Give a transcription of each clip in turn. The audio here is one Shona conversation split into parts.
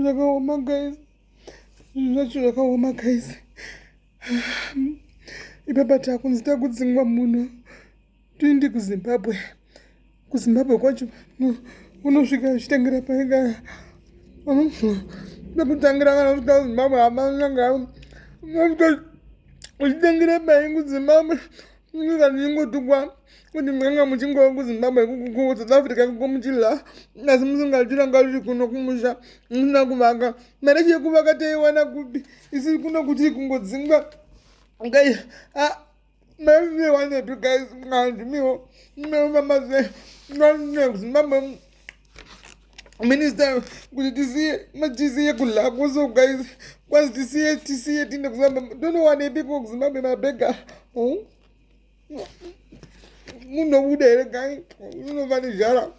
zvakaoma guys zvacho zvakaoma guys ipapa takunzi takudzingwa munhu tiindi kuzimbabwe kuzimbabwe kwacho unosvika uchitengera paika nekutangira kana kusvika kuzimbabwe hamananga uchitengera paikuzimbabwe Ndinoda ndingotukwa kuti mukanga muchingova kuzimbabwe kusouth africa kuko muchidla asi musingatiranga riri kuno kumusha musina kuvaka mari yacho yekuvaka taiwana kupi isiri kuno kuti kungodzingwa ngai maivanepi guys ngandimiwo ndinofamba sei ngandine kuzimbabwe minister kuti tisiye tisiye kulakwo so guys kwazi tisiye tisiye tiende kuzimbabwe tonowanepiko kuzimbabwe mabhega hmm? munobuda here gai unova nezhara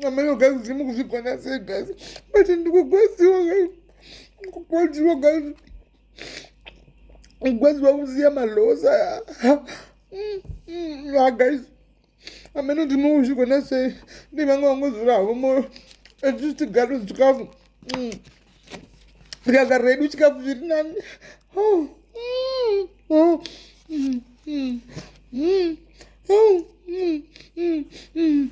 amaiwo gai kuti mukuzvigona sei gai but ndikugwadziwa gai kugwadziwa gai kugwadziwa kusiya malosa ya hmm, hmm, guys ameno ndinouzvigona sei ndivanga vangozvura havo moyo etisu tigare chikafu mm. tikagara redu chikafu zviri nani oh, mm, oh, mm, mm, mm, oh, mm, mm, mm.